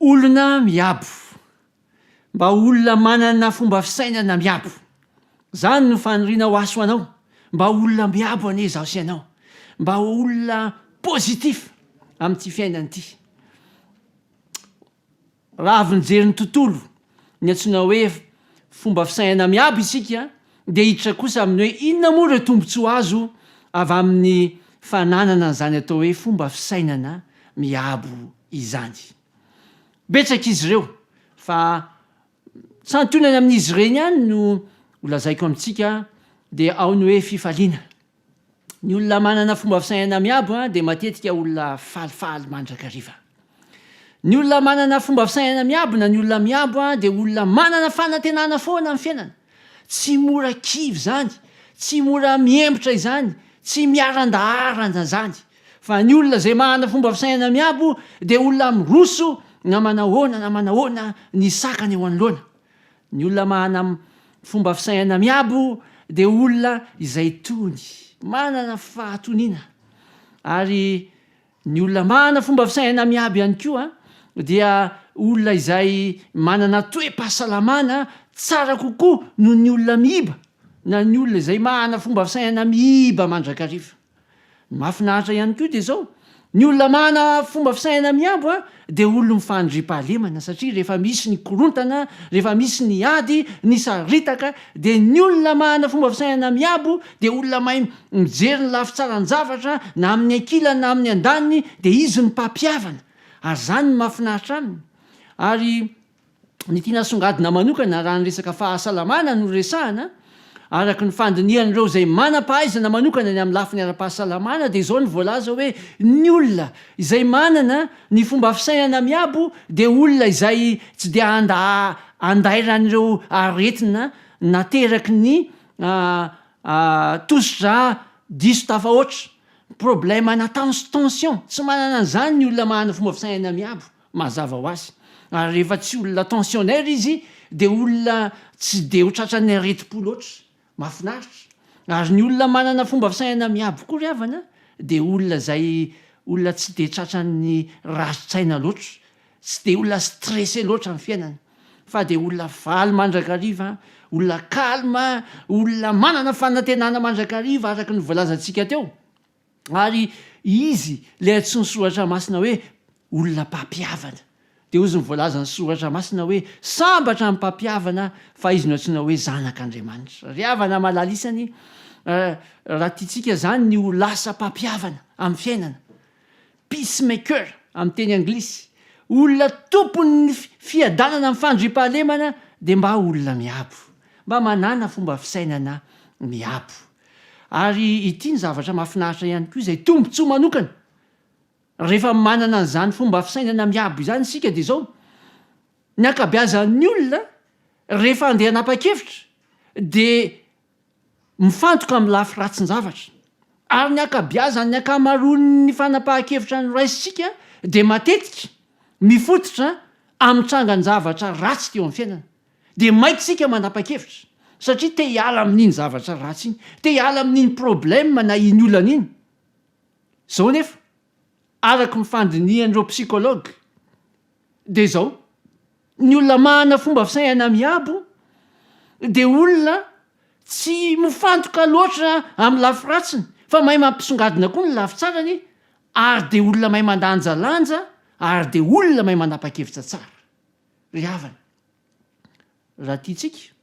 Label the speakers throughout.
Speaker 1: Olona miabo. Mba ho olona manana fomba fisainana miabo. Izany no faniriana ho aso anao. Mba ho olona miabo anie izaho sy ianao. Mba ho olona positif amin'ity fiainana ity. Raha avy nijery ny tontolo Ny antsoina hoe fomba fisainana miabo isika dia hiditra kosa amin'ny hoe inona moa ireo tombontsoa azo avy amin'ny fananana an'izany atao hoe fomba fisainana miabo izany. Betsaka izy ireo fa santionany amin'izy ireny ihany no holazaiko amintsika dia ao ny hoe fifaliana. Ny olona manana fomba fisainana miabo dia matetika olona falifaly mandrakariva. Ny olona manana fomba fisainana miabo na ny olona miabo dia olona manana fanantenana foana amin'ny fiainana. Tsy mora kivy izany, tsy mora mihemotra izany, tsy miarandaharana izany. Fa ny olona izay manana fomba fisainana miabo dia olona miroso na manahoana na manahoana ny sakana eo anoloana. Ny olona mahana fomba fisainana miabo dia olona izay tony, manana fahatoniana. Ary ny olona mahana fomba fisainana miabo ihany koa dia olona izay manana toe-pahasalamana tsara kokoa noho ny olona miiba na ny olona izay mahana fomba fisainana miiba mandrakariva. Ny mahafinaritra ihany koa dia izao, ny olona manana fomba fisainana mihambo dia olon'ny fandriampahalemana satria rehefa misy ny korontana, rehefa misy ny ady, ny saritaka dia ny olona manana fomba fisainana mihambo dia olona mahay mijery ny lafy tsaran-javatra na amin'ny ankilany na amin'ny andaniny dia izy no mpampihavana ary izany no mahafinaritra aminy ary ny tiana asongadina manokana raha ny resaka fahasalamana no resahana, araka ny fandinihan'ireo izay manam-pahaizana manokana ny amin'ny lafiny ara-pahasalamana dia izao ny voalaza hoe ny olona izay manana ny fomba fisainana miabo dia olona izay tsy dia handa andairan'ireo aretina nateraky ny tosidra diso tafahoatra, problème na tension, tsy manana an'izany ny olona manana fomba fisainana miabo. Mazava ho azy, ary rehefa tsy olona tensionnaire izy dia olona tsy dia ho tratran'ny aretim-po loatra. Mahafinaritra. Ary ny olona manana fomba fisainana miabo koa ry havana dia olona izay olona tsy dia tratran'ny rarin-tsaina loatra, tsy dia olona stressé loatra amin'ny fiainana. Fa dia olona faly mandrakariva, olona calme, olona manana fanantenana mandrakariva araka ny voalazantsika teo. Ary izy ilay antsoin'ny Soratra Masina hoe olona mpampihavana. Dia hozy ny voalazan'ny Soratra Masina hoe, Sambatra ny mpampihavana, fa izy no antsoina hoe zanak'Andriamanitra. Ry havana malala isany, raha tiantsika izany ny ho lasa mpampihavana amin'ny fiainana, Peacemaker, amin'ny teny anglisy, olona tompon' ny fiadanana amin'ny fandriampahalemana dia mba olona miabo, mba manana fomba fisainana miabo. Ary ity ny zavatra mahafinaritra ihany koa izay tombontsoa manokana rehefa manana an'izany fomba fisainana miabo izany isika dia izao, ny ankabeazan'ny olona rehefa andeha hanapa-kevitra dia mifantoka amin'ny lafy ratsin-javatra. Ary ny ankabiazan'ny ankamaroan'ny fanapahan-kevitra noraisintsika dia matetika mifototra amin'ny trangan-javatra ratsy teo amin'ny fiainana. Dia maika isika manapa-kevitra satria te hiala amin'iny zavatra ratsy iny, te hiala amin'iny problème na iny olana iny. Izao anefa, araka ny fandinihan'ireo psychologues, Dia izao, ny olona manana fomba fisaiana miabo dia olona tsy mifantoka loatra amin'ny lafy ratsiny fa mahay mampisongadina koa ny lafy tsarany ary dia olona mahay mandanjalanja ary dia olona mahay manapa-kevitra tsara. Ry havana, Raha tiantsika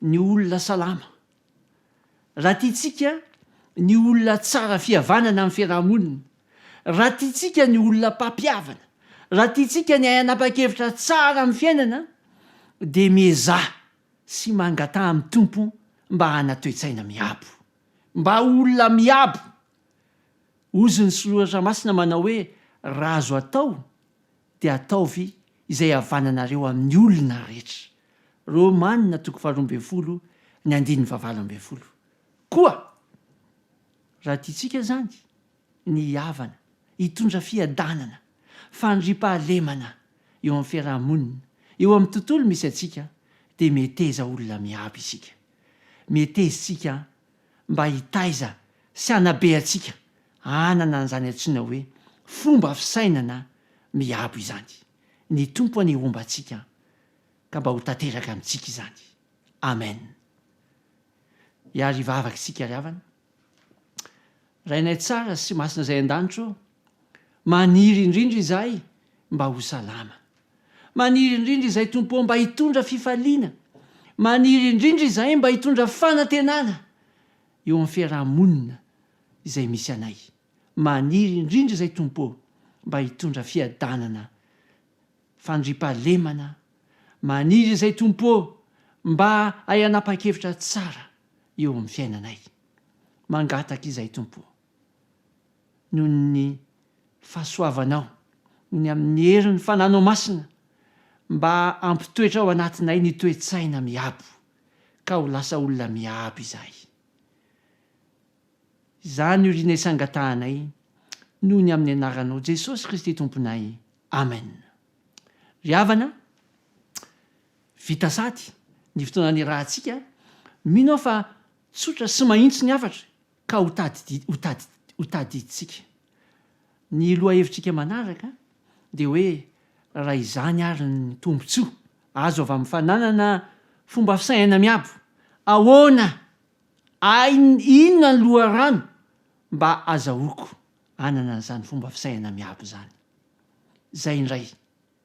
Speaker 1: ny olona salama, raha tiantsika ny olona tsara fihavanana amin'ny fiarahamonina, raha tiantsika ny olona mpampihavana, raha tiantsika ny hanapa-kevitra tsara amin'ny fiainana dia miezaha sy mangataha amin'ny Tompo mba hana toe-tsaina miabo, mba ho olona miabo. Hozy ny Soratra Masina manao hoe, Raha azo atao dia ataovy izay havananareo amin'ny olona rehetra. Romanina toko faharoa ambin'ny folo ny andininy fahavalo ambin'ny folo. Koa raha tiantsika izany ny hihavana, hitondra fiadanana, fandriampahalemana eo amin'ny fiaraha-monina, eo amin'ny tontolo misy antsika, dia mieteza olona miabo isika. Mietezintsika mba hitaiza sy hanabe antsika hanana an'izany antsoina hoe fomba fisainana miabo izany. Ny Tompo anie homba antsika ka mba ho tanteraka amintsika izany. Amen. Hiarivavaka isika ry havana. Rainay tsara sy masina izay an-danitra ô, maniry indrindra izahay mba ho salama. Maniry indrindra izahay Tompo ô mba hitondra fifaliana. Maniry indrindra izahay mba hitondra fanantenana eo amin'ny fiaraha-monina izay misy anay. Maniry indrindra izahay Tompo ô mba hitondra fiadanana, fandriampahalemana. Maniry izahay Tompo ô mba hay hanapa-kevitra tsara eo amin'ny fiainanay. Mangataka izay Tompo o. Noho ny fahasoavanao, noho ny amin'ny herin'ny fananao masina, mba hampitoetra ao anatinay ny toe-tsaina miabo, ka ho lasa olona miabo izahay. Izany oriana isangatahanay noho ny amin'ny anaranao Jesosy Kristy Tomponay. Amen. Ry havana, vita sady ny fotoana nirahantsika, mino aho fa Tsotra sy mahitsy ny hafatra ka ho tadidintsika. Ny lohahevitrika manaraka dia hoe raha izany ary ny tombontsoa azo avy amin'ny fananana fomba fisainana miabo, ahoana ainy inona ny loharano mba azahoako hanana an'izany fomba fisainana miabo izany? Izay indray.